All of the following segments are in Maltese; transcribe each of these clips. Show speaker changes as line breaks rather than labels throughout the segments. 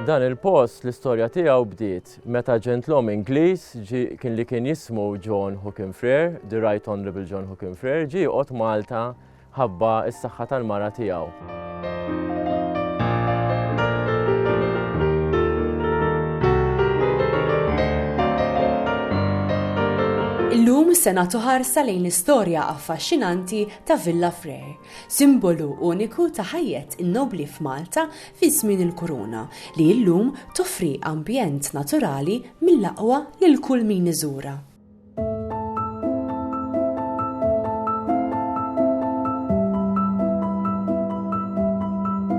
Dan il-post l-istorja tiegħu bdiet meta ġentlom Ingliż kien li kien jismu John Hookin Frere, the Right Honorable John Hookin Frere, ġie qod Malta ħabba s-saħħa tal-mara tiegħu.
Illum se nagħtu ħarsa lejn l-istorja affaxxinanti ta' Villa Frere, simbolu uniku ta' ħajjet in-nobli f'Malta fi żmien il-kuruna li llum toffri ambjent naturali mill-aqwa lil kull min iżura.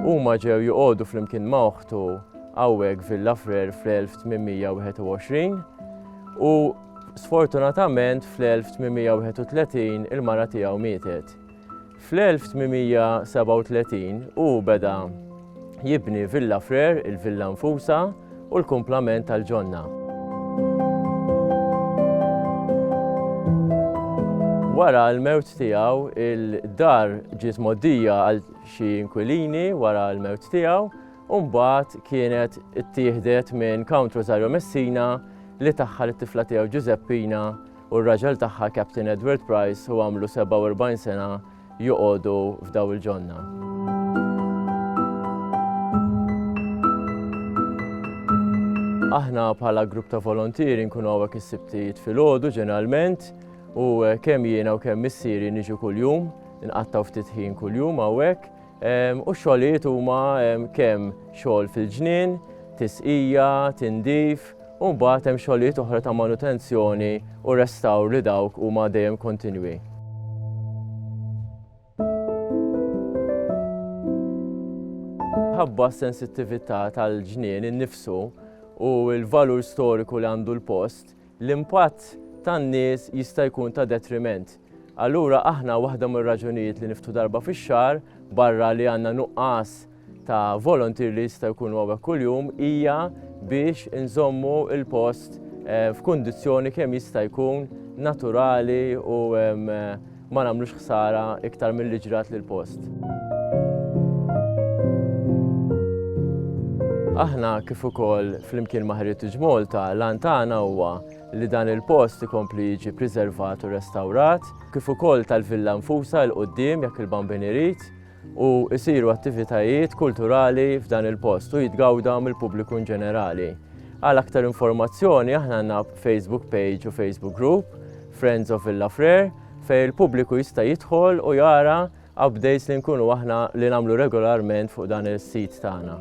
Huma ġew joqogħdu flimkien ma' oħtu hawnhekk Villa Frer fl-1821 u sfortunatament fl-1831 il-mara tiegħu mietet. Fl-1837 hu beda jibni Villa Frere, il-villa nfusha u l-kumplament tal-ġonna. Wara l-mewt tiegħu, il-dar ġiet moddija għal xi inkwilini wara l-mewt tiegħu u mbagħad kienet ittieħdet minn Count Rosario Messina li taħħal it-tifla tiegħu Ġużeppina u r-raġel tagħha Captain Edward Price hu għamlu 47 sena joqogħdu f'daw il-ġonna. Aħna bħala grupp ta' volontieri nkunu għawek is-sibtijiet fil-ħodu ġeneralment u kemm jiena u kemm missieri niġu kuljum, nqattaw ftit ħin kuljum għawek U x-xogħlijiet huma kemm xogħol fil-ġnien, tisqija, tindif, u mbagħad hemm xogħlijiet oħra ta' manutenzjoni u restawr li dawk huma dejjem kontinwi. Ħabba s-sensittività tal-ġnien innifsu u l-valur storiku li għandu l-post, l-impatt tan-nies jista' jkun ta' detriment. Allura aħna waħda mir-raġunijiet li niftħu darba fix-xahar, barra li għandna nuqqas ta' volunteer li jista' jkunu hawnhekk kuljum, hija biex inżommu l-post eh, f'kundizzjoni kemm jista' jkun naturali u ma nagħmlux ħsara iktar milli ġrat lill-post. Aħna kif ukoll flimkien ma' Heritage Malta l-għan tagħna huwa li dan il-post ikompli jiġi priservat u restawrat, kif ukoll tal-villa nfusha il-qudiem jekk il-Bambin irid, u jsiru attivitajiet kulturali f'dan il-post u jitgawda mill-pubbliku in ġenerali. Għal aktar informazzjoni aħna għandna Facebook page u Facebook group Friends of Villa Frere fej il-pubbliku jista' jidħol u jara updates li nkunu aħna li nagħmlu regolarment fuq dan is-sit tagħna.